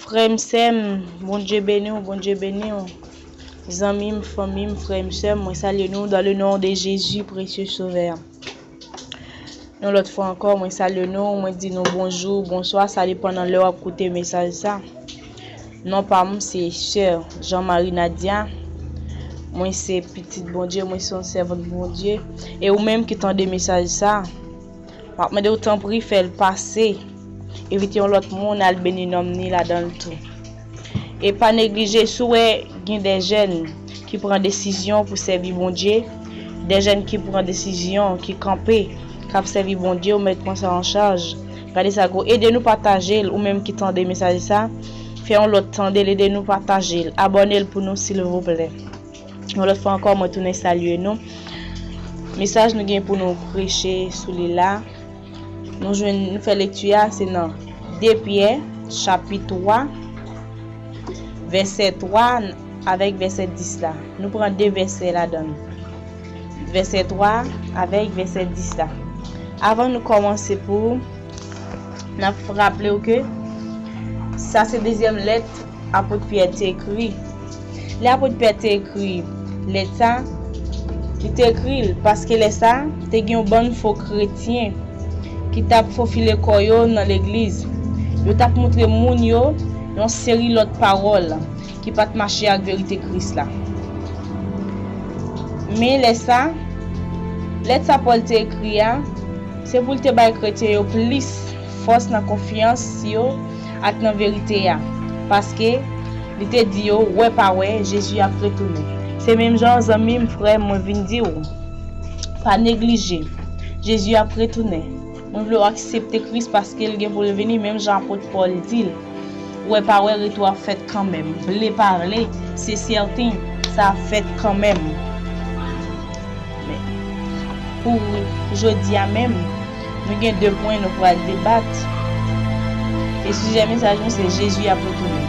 Frèm sèm Bondye beniw Bondye beniw Zanmim fanmim frèm sèm mwen salye nou dan le non de Jezi presye sovè Yon lòt fwa ankò mwen salye nou mwen di nou bonjou bonswa sa depan nan lè wap koute mesaj sa non pam se sè Jean Marie Nadia mwen se pitit Bondye mwen son sèvant Bondye e ou menm ki tande mesaj sa. Map mandew tanpri fèl pase evite yon lòt moun al beni nonm ni ladanl tou e pa neglije si w wè gen de jèn ki pran desizyon pou sèvi Bondye de jèn ki pran desizyon ki kanpe kap sèvi Bondye ou mèt pran sa an chaj gade sa gwo ede nou patajel ou menm ki tande mesaj sa fè yon lòt tandel ede nou patajel abònel pou nou silvouplè. Yon lòt fwa ankò mwen tounen salye nou. Mesaj nou gen pou nou preche sou li la, nou jwenn nou fè lekti a se nan 2 Pyè chapit 3 vèsè 3 avèk vèsè 10 la. Nou pran 2 vèsè ladan l. Vèsè 3 avèk vèsè 10 la. Avan nou kòmanse pou, n ap raple w ke sa se dezyèm lèt Apot Pyè te ekri. Lè apot Pyè te ekri lèt sa a, li te ekri l paske lè sa a, te gen yon bann fo kretyen ki t ap fofile kò yo nan legliz. Yo t ap montre moun yo yon seri lòt pawòl ki pa t mache ak verite Kris la. Men lè sa a, lèt sa Pòl te ekri a, se pou l te bay kretyen yo plis. fòs nan konfyans yo ak nan verite a, paske, li te di yo, wè pa wè, Jezi ap retounen. Se menm jan, zanmi m, frè m, mwen vin di ou, pa neglije, Jezi ap retounen. Mwen vle ou aksepte Kris paske l gen pou l vini, menm jan apot Pòl di l. Wè pa wè retou ap fèt kanmenm. Vle pa vle, se sèten, sa ap fèt kanmenm. Men, pou jodi a menm, nou gen de pwen nou pral debat. E sijè mesaj nou se Jezi ap retounen.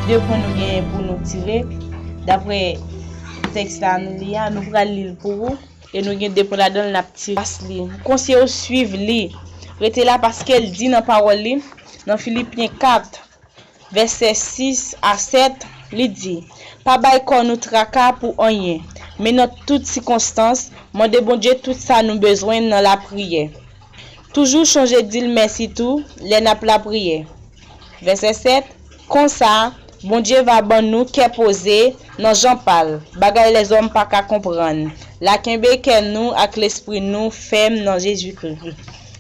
De pwen nou genyen pou nou tire, dapre tèks la nou li a, nou pral li l pou ou. E nou gen de pwen ladan l n ap tire. Konseye w suiv li. Rete la paske l di nan pawòl li. Nan Filipyen 4, vèsè 6 a 7, li di, Pa bay kò nou traka pou anyen, men nan tout sikonstans, mande Bondye tout sa nou bezwen nan lapriyè. Toujou chonje di l mèsi tou lè n ap lapriyè. Vèsè 7. Konsa, Bondye va ban nou kè poze, nan jan pa l, bagay lèzòm pa ka konprann, la kenbe kè nou ak lespri nou fèm nan Jezikri.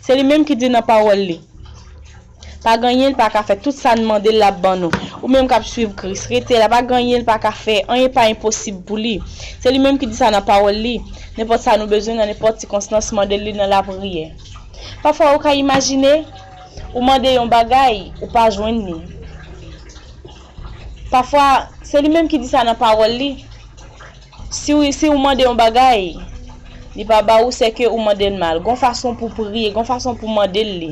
Se li menm ki di nan Pawòl li, Pa gen anyen l pa ka fè, tout sa n mande l l ap ban nou. Ou menm k ap suiv Kris, rete la, pa gen anyen l pa ka fè, anyen pa enposib pou li. Se li menm ki di sa nan Pawòl li, Nenpòt sa nou bezwen nan nenpòt sikonstans, mande l li nan lapriyè. Pafwa ou ka imajine? ou mande yon bagay ou pa jwenn li. Pafwa, se li menm ki di sa nan pawòl li, si ou mande yon bagay, li pa ba ou, se ke ou mande l mal. Gon fason pou priye, gon fason pou mande l li.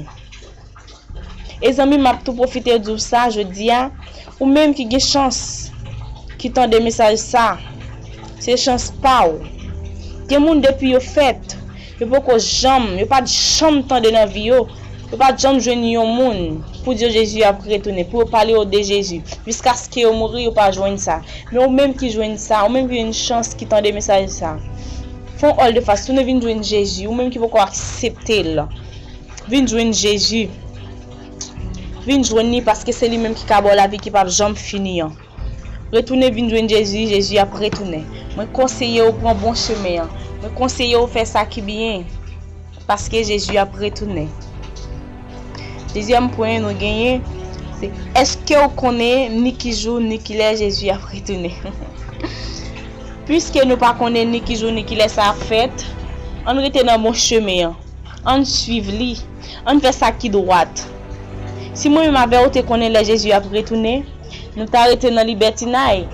E zanmi m ap tou pwofite di w sa jodi a, ou menm ki gen chans ki tande mesaj sa, se chans pa w. Gen moun depi yo fèt, Yo poko janm, yo pat janm tande nan vi yo, yo pat janm jwenn yon moun pou di yo Jezi ap retounen, pou yo pale yo de Jezi. Jiskaske yo mouri, yo pa jwenn sa. Men ou menm ki jwenn sa, ou menm ki jwenn chans, ki tande mesaj sa, fè yon òl de fas, tounen vin jwenn Jezi. Ou menm ki poko aksepte l, vin jwenn Jezi. Vin jwenn li paske se li menm ki ka ba w lavi ki pap janm fini an. Retounen vin jwenn Jezi, Jezi ap retounen. Mwen konseye w pran bon chemen an. Mwen konseye w fè sa ki byen, paske Jezi ap retounen. Dezyèm pwen nou genyen, se èske w konnen ni ki jou ni ki lè Jezi ap retounen? Piske nou pa konnen ni ki jou ni ki lè sa ap fèt, ann rete nan bon chemen an, ann suiv li, ann fè sa ki dwat. Si mwen menm avè w te konnen lè Jezi ap retounen, Nou ta rete nan libètinay?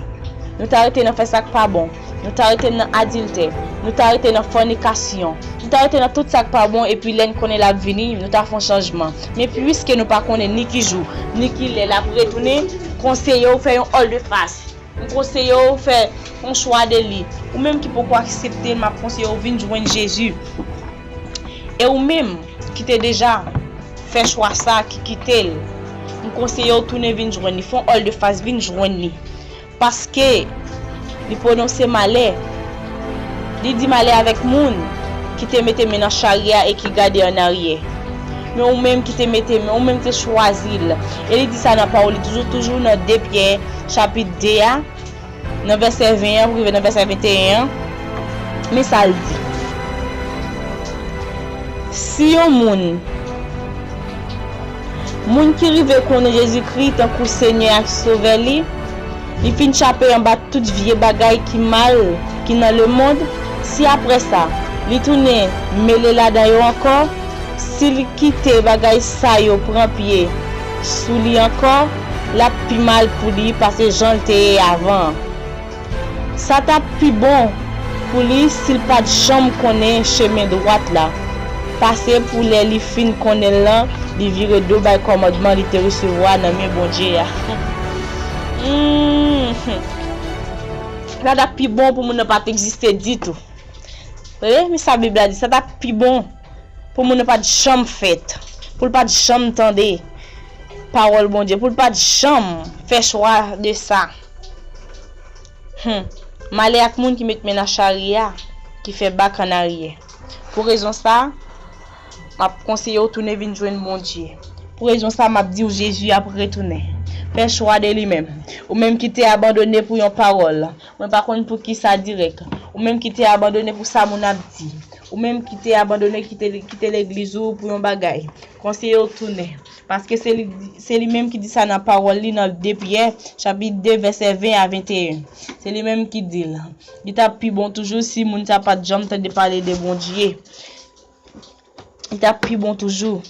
Nou ta rete nan fè sa k pa bon? Nou ta rete nan adiltè? Nou ta rete nan fònikasyon? Nou ta rete nan tout sa k pa bon epi lè n konnen l ap vini, nou ta fè yon chanjman? Men piske nou pa konnen ni ki jou, ni ki lè l ap retounen, m konseye w fè yon òldefas. M konseye w fè yon chwa de li. Ou menm ki poko aksepte l, m ap konseye w vin jwenn Jezi. E ou menm? ki te deja fè chwa sa ki kite l m konseye w tounen vin jwenn li fè yon òl de fas vin jwenn li paske li pwononse malè li di malè avèk moun ki te mete men nan charye a e ki gade an aryè men ou menm ki te mete men ou menm ki te chwazi l e li di sa nan pawòl li toujou toujou nan 2 pyè chapit 2 a. Nan vèsè 20 an pou rive nan vèsè 21 an, men sa l di, Si yon moun, moun ki rive konnen Jezikri tankou Senyè ak Sovè li, li fin chape anba tout vye bagay ki mal ki nan lemonn, si apre sa, li tounen mele ladan yo ankò, si l kite bagay sa yo pran pye sou li ankò, l ap pi mal pou li pase jan l te ye avan an. Sa t ap pi bon pou li si l pa t janm konnen chemen dwat la, pase pou lè li fin konnen l lan, li vire do bay kòmandman li te resevwa nan men Bondye a. Sa t ap pi bon pou moun nan pa t egziste ditou. Sa t ap pi bon. pou moun nan pa t janm fèt, pou l pa t janm tande pawòl Bondye, pou l pa t janm fè chwa de sa. Hum! Malè ak moun ki met men nan charya, ki fè bak an aryè. Pou rezon sa, m ap konseye w tounen vin jwenn Bondye. Pou rezon sa, m ap di w Jezi ap retounen. Fè chwa de li menm. Ou menm ki te abandone pou yon pawòl. Mwen pa konn pou kisa dirèk. Ou menm ki te abandone pou sa moun ap di. Ou menm ki te abandone kite legliz ou pou yon bagay. Konseye w tounen. Paske se li menm ki di sa nan pawòl li nan 2 Pyè chapit 2 vèsè 20 a 21. Se li menm ki di l. Li t ap pi bon toujou si moun sa pa t janm tande pale de Bondye. Li t ap pi bon toujou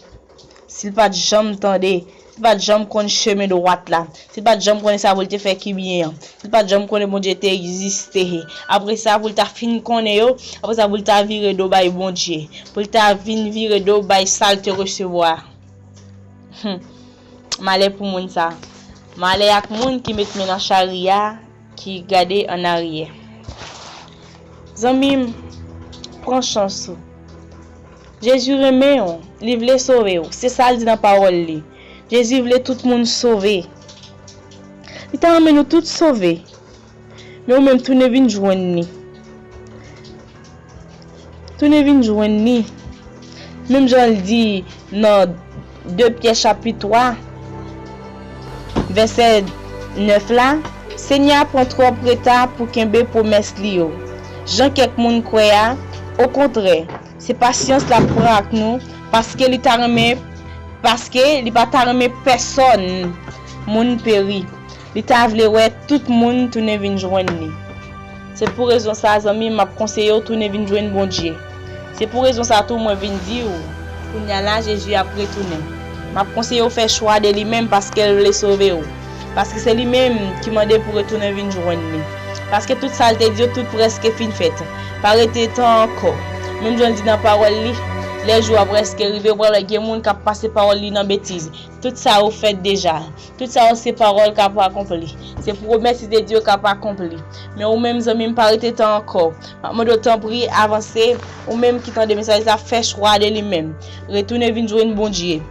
si l pa t janm tande, si l pa t janm konn chemen dwat la, si l pa t janm konnen sa pou l te fè ki byen an, si l pa t janm konnen Bondye te egziste, apre sa pou l ta fin konnen yo, apre sa pou l ta vire do bay Bondye, pou l ta vin vire do bay sa l te resevwa a. Hum! Malè pou moun sa a! Malè ak moun ki met men nan charya a! ki gade an aryè zanmim pran chans ou Jezi renmen ou li vle sove ou se sal di nan pawòl li Jezi vle tout moun sove li ta renmen nou tout sove men ou menm tounen vin jwenn li. Tounen vin jwenn ni. Menm jan l di nan 2 Pyè chapit 3 vèsè 9 la, Senyè a pran twòp reta pou kenbe pwomès li yo, jan kèk moun kwè a, okontrè, se pasyans l ap pran ak nou, paske li ta renmen paske li pa ta renmen pèsonn moun peri. Li ta vle wè tout moun tounen vin jwenn li. Se pou rezon sa zanmi m ap konseye w tounen vin jwenn Bondye. Se pou rezon sa tou mwen vin di w kounya la Jezi ap retounen. M ap konseye w fè chwa de li menm paske l vle sove w. Paske se li menm ki mande pou retounen vin jwenn li. Paske tout sa l te di yo tout prèske fin fèt. Pa rete tan ankò. Menm jan l di nan pawòl li, Lè jou a prèske rive ou pral wè gen moun k ap pase pawòl li nan betiz. Tout sa yo fèt deja. Tout sa yo se pawòl k'ap akonpli. Se pwomès li te di yo k'ap akonpli. Men ou menm zanmi m pa rete tan ankò. M'ap mande w tanpri avanse, ou menm ki tande mesaj la fè chwa de li menm. Retounen vin jwenn Bondye.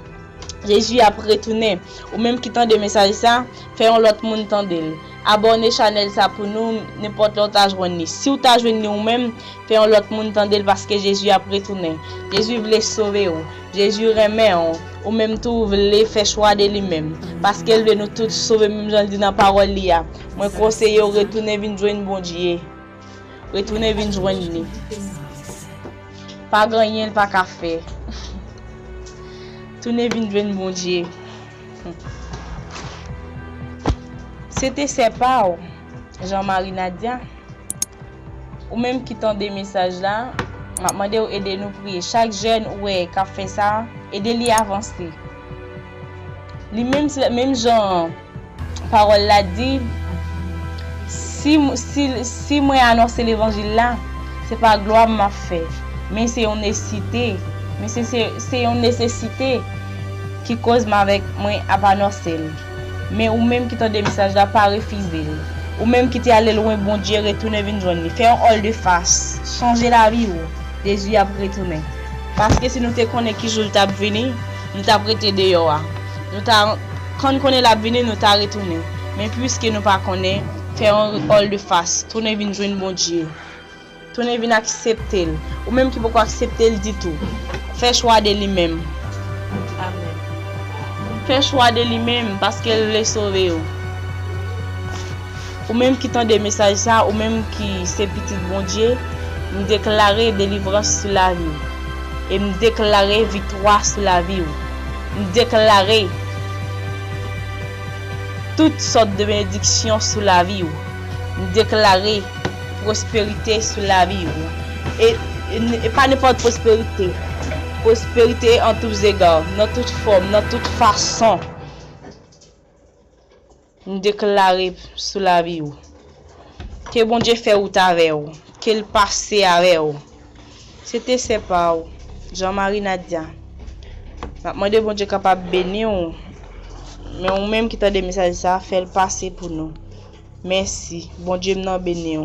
Jezi ap retounen. Ou menm ki tande mesaj sa, fè yon lòt moun tande l. Abòne chanèl sa pou nou, nenpòt lè ou ta jwenn li. Si ou ta jwenn li ou menm, fè yon lòt moun tande l paske Jezi ap retounen. Jezi vle sove ou. Jezi renmen w, ou menm tou ou vle fè chwa de li menm, paske l vle nou tout sove menm jan l di nan pawòl li a, mwen konseye w retounen vin jwenn Bondye. Retounen vin jwenn li. Pa gen anyen l pa ka fè. Tounen vin jwenn Bondye. Se te sè pa w, Jean Marie Nadia. Ou menm ki tande mesaj la, map mande ou ede nou priye. Chak jèn ou wè kap fè sa, ede li avanse. Li menm se menm jan parol la di si si si mwen anonse levanjil la, se pa glwa m map fè, men se yon nesite, men se se se yon nesesite ki koz m avèk mwen ap anonsel. Men ou menm ki tande mesaj la pa refize l. Ou menm ki te ale lwen Bondye retounen vin jwenn li. Fè yon òl de fas. Chanje lavi ou. Jezi ap retounen. Paske si nou te konnen ki jou l t ap vini, nou t ap rete deyò a. Nou ta Kan n konnen l ap vini nou ta retounen. Men piske nou pa konnen, fè yon òl de fas. Tounen vin jwenn Bondye. Tounen vin aksepte l. Ou menm ki poko aksepte l ditou. Fè chwa de li menm. Amen. Fè chwa de li menm paske l vle sove ou. Ou menm ki tande mesaj sa, ou menm ki se pitit Bondye, m deklare delivrans sou lavi w. E m deklare viktwa sou lavi w. M deklare tout sòt de benediksyon sou lavi w. M deklare. Pwosperite sou lavi ou. E pa nenpòt pwosperite. Pwosperite an tou zega, nan tout fòm, nan tout fason. M deklare sou lavi ou. Ke Bondye fè wout avè ou. Ke l pase avè ou. Se te sè pa ou. Jean Marie Nadia. M ap mande Bondye kapab beni ou. Men ou menm ki tande mesaj sa, fè l pase pou nou. Mèsi. Bondye m nan beni w.